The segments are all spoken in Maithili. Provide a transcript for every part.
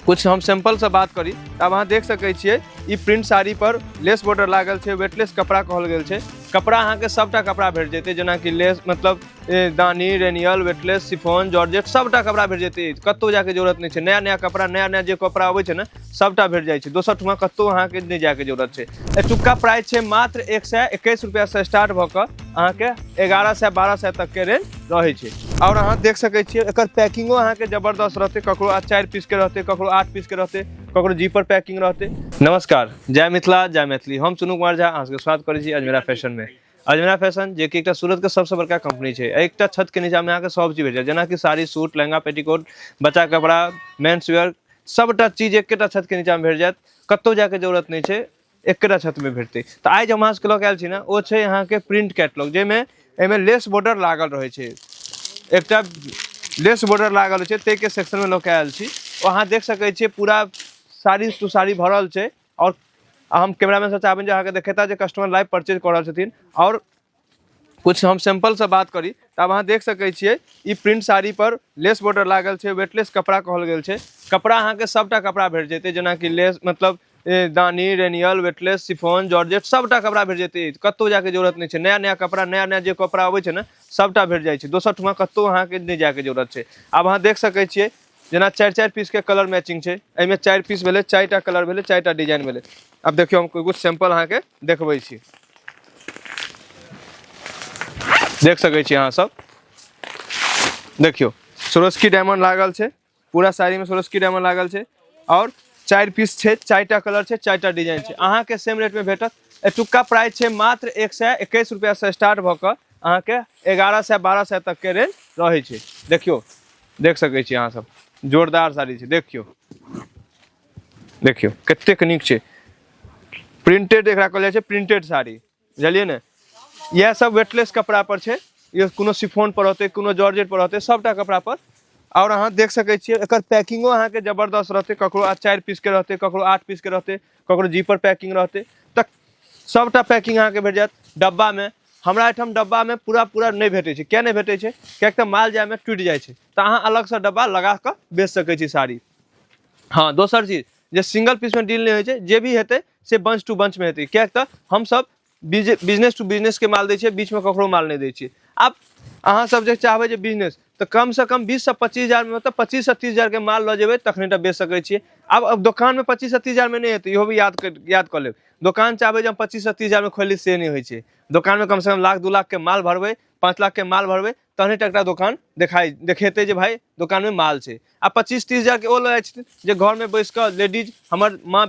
कुछ हम सैंपल से बात करी त अब अहाँ देख सकै छियै ई प्रिंट साड़ी पर लेस बॉर्डर लागल छै वेटलेस कपड़ा कहल गेल छै कपड़ा अहाँके सभटा कपड़ा भेट जेतै जेनाकि लेस मतलब ए, दानी रेनियल वेटलेस सिफोन जॉर्जेट सभटा कपड़ा भेट जेतै कतौ जाके जरूरत नहि छै नया नया कपड़ा नया नया जे कपड़ा अबै छै ने सभटा भेट जाइ छै दोसर ठुमा कतौ अहाँके नहि जाके जरूरत छै एतुका प्राइस छै मात्र एक सए एकैस रुपैआसँ स्टार्ट भऽ कऽ अहाँके एगारह सए बारह सए तकके रेंज रहै छै आओर अहाँ देख सकै छियै एकर पैकिंगो अहाँके जबरदस्त रहतै ककरो आ चारि पीसके रहतै ककरो आठ पीसके रहतै ककरो जीपर पैकिंग रहतै नमस्कार जय मिथिला जय मैथिली हम सुनू कुमार झा अहाँ सबके स्वागत करै छी अजमेरा फैशनमे अजमेरा फैशन जे कि एकटा सूरतके सबसँ बड़का कंपनी छै एहि एकटा छतके नीचामे अहाँके सब चीज भेट जायत जेनाकि साड़ी सूट लहंगा पेटीकोट बच्चा कपड़ा मेन्स वेयर सभटा चीज एकेटा छतके नीचामे भेट जायत कतहु जायके जरूरत नहि छै एकरा छत में भेटते तो आज हम अहाँके लऽ के आयल छी ने ओ छै अहाँके प्रिंट कैटलॉग जाहिमे एहिमे लेस बॉर्डर लागल रहै छै एकटा लेस बॉर्डर लागल रहै छै ताहिके सेक्शनमे लऽ के आयल छी ओ अहाँ देख सकै छियै पूरा साड़ी टू साड़ी भरल छै आओर हम कैमरामैन से चाहबनि जे अहाँके देखेता जे कस्टमर लाइव परचेज कऽ रहल छथिन आओर कुछ हम सैंपल से बात करी त अब अहाँ देख सकै छियै ई प्रिंट साड़ी पर लेस बॉर्डर लागल छै वेटलेस कपड़ा कहल गेल छै कपड़ा अहाँके सबटा कपड़ा भेट जेतै जेनाकि लेस मतलब ए, दानी रेनियल वेटलेस सिफोन जॉर्जेट सबटा कपड़ा भेट जेतै कतौ जाके जरूरत नहि छै नया नया कपड़ा नया नया जे कपड़ा अबै छै ने सबटा भेट जाइ छै दोसर ठमा कतौ अहाँके नहि जाके जरूरत छै आब अहाँ देख सकै छियै जेना चारि चारि पीसके कलर मैचिंग छै एहिमे चारि पीस भेलै चारि टा कलर भेलै चारि टा डिजाइन भेलै आब देखियौ हम किछु सैम्पल अहाँके देखबै छी देख सकै छी अहाँ सब देखियौ सोरोस्की डायमंड लागल छै पूरा साड़ीमे सोरोस्की डायमंड लागल छै आओर चारि पीस छै चारि टा कलर छै चारि टा डिजाइन छै अहाँके सेम रेटमे भेटत एतुक्का प्राइस छै मात्र एक सए एकैस रुपैआसँ स्टार्ट भऽ कऽ अहाँके एगारह सए बारह सए तकके रेंज रहै छै देखियौ देख सकै छी अहाँ सब जोरदार साड़ी छै देखियौ देखियौ कतेक नीक छै प्रिंटेड एकरा कहल जाइ छै प्रिंटेड साड़ी बुझलियै ने इएह सब वेटलेस कपड़ा पर छै ये कोनो सिफोन पर होतै कोनो जॉर्जेट पर होतै सबटा कपड़ा पर और अहाँ देख सकै छियै एकर पैकिंगो अहाँके जबरदस्त रहतै ककरो आ चारि पीसके रहतै ककरो आठ पीसके रहतै ककरो जीपर पैकिंग रहतै तऽ सभटा पैकिंग अहाँके भेट जायत डब्बामे हमरा एहिठाम डब्बामे पूरा पूरा नहि भेटै छै किया नहि भेटै छै किएक तऽ माल जायमे टूटि जाइ छै तऽ अहाँ अलगसँ डब्बा लगा कऽ बेच सकै छी साड़ी हँ दोसर चीज जे सिंगल पीसमे डील नहि होइ छै जे भी हेतै से बंच टू बंचमे हेतै किएक तऽ हमसभ बिजनेस टू बिजनेसके माल दै छियै बीचमे ककरो माल नहि दै छियै आब अहाँसभ जे चाहबै जे बिजनेस तऽ कमसँ कम बीससँ पच्चीस हजारमे मतलब पच्चीससँ तीस हजारके माल लऽ जेबै तखने टा बेच सकै छियै आब आब दोकानमे पच्चीससँ तीस हजारमे नहि हेतै इहो भी याद कर याद कऽ लेब दोकान चाहबै जे हम पच्चीससँ तीस हजारमे खोलि ली से नहि होइ छै दोकानमे कमसँ कम लाख दू लाखके माल भरबै पाँच लाखके माल भरबै तहने टा एकटा दोकान देखाइ देखेतै जे भाय दोकानमे माल छै आ पच्चीस तीस हजारके ओ लऽ जाइ छथिन जे घरमे बैस कऽ लेडीज हमर माँ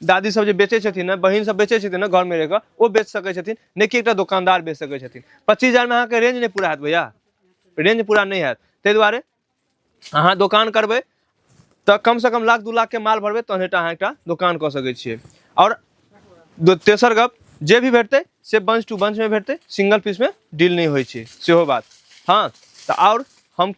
दादी सब जे बेचै छथिन ने बहिन सब बेचै छथिन ने घरमे रहि कऽ ओ बेच सकै छथिन नहि कि एकटा दोकानदार बेच सकै छथिन पच्चीस हजारमे अहाँके रेंज नहि पूरा हैत भैया रेंज पूरा नहि हैत ताहि दुआरे अहाँ दोकान करबै तऽ कमसँ कम लाख दू लाखके माल भरबै तहने टा अहाँ एकटा दोकान कऽ सकै छियै आओर दो- तेसर गप जे भी भेटतै से बंच टू बंचमे भेटतै सिंगल पीसमे डील नहि होइ छै सेहो बात हँ तऽ आओर हम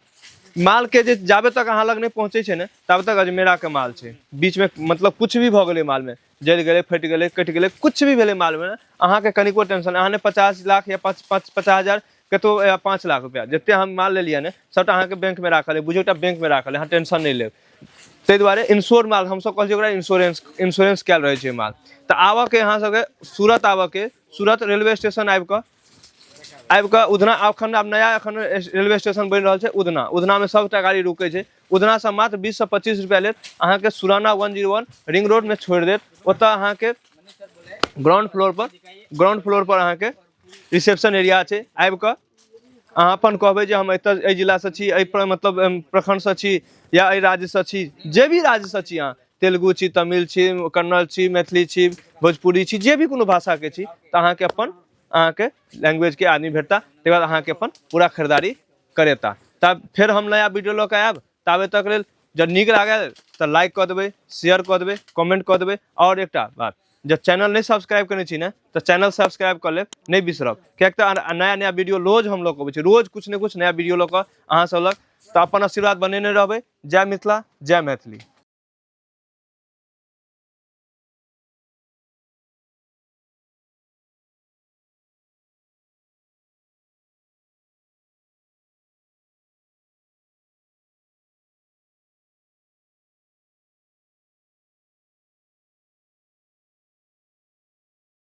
मालके जे जाबे तक अहाँ लग नहि पहुँचै छै ने ताबे तक अजमेराके माल छै बीचमे मतलब किछु भी भऽ गेलै मालमे जरि गेलै फटि गेलै कटि गेलै किछु भी भेलै मालमे अहाँके कनिको टेंशन अहाँ ने पचास लाख या पाँच पाँच पचास हजार कतो या पाँच लाख रुपैआ जतेक हम माल लेलियै ने सभटा अहाँके बैंकमे राखल अइ बुझियौ एकटा बैंकमे राखल अइ अहाँ टेंशन नहि लेब ताहि दुआरे इंश्योर माल हमसभ कहै छियै ओकरा इंश्योरेंस इंश्योरेंस कयल रहै छै माल तऽ आबयके अहाँसभके सूरत आबयके सूरत रेलवे स्टेशन आबि कऽ आबि कऽ उधना अखन आब नया एखन रेलवे स्टेशन बनि रहल छै उधना उधनामे सभटा गाड़ी रुकै छै उधनासँ मात्र बीससँ पच्चीस रुपैआ लेत अहाँके Surana one zero one ring रोडमे छोड़ि देत ओतऽ अहाँके ग्राउंड फ्लोरपर ग्राउंड फ्लोरपर अहाँके रिसेप्शन एरिया छै आबि कऽ अहाँ अपन कहबै जे हम एतऽ एहि जिलासँ छी एहि प्र- मतलब अम, प्रखंडसँ छी या एहि राज्यसँ छी जे भी राज्यसँ छी अहाँ तेलुगु छी तमिल छी कन्नड़ छी मैथिली छी भोजपुरी छी जे भी कोनो भाषाके छी तऽ अहाँके अपन अहाँके लैंग्वेजके आदमी भेटता तकर बाद अहाँके अपन पूरा खरीदारी करेता तब फेर हम नया वीडियो लऽ कऽ आयब ताबे तक लेल जब नीक लागल तऽ लाइक कऽ देबै शेयर कऽ देबै कमेंट कऽ देबै आओर एकटा बात जब चैनल नहि सब्सक्राइब कयने छी ने तऽ चैनल सब्सक्राइब कऽ लेब नहि बिसरब किएक तऽ अन- नया नया वीडियो रोज हम लऽ कऽ अबै छी रोज किछु ने किछु नया वीडियो लऽ कऽ अहाँ सब लग तऽ अपन आशीर्वाद बनेने रहबै जय मिथिला जय मैथिली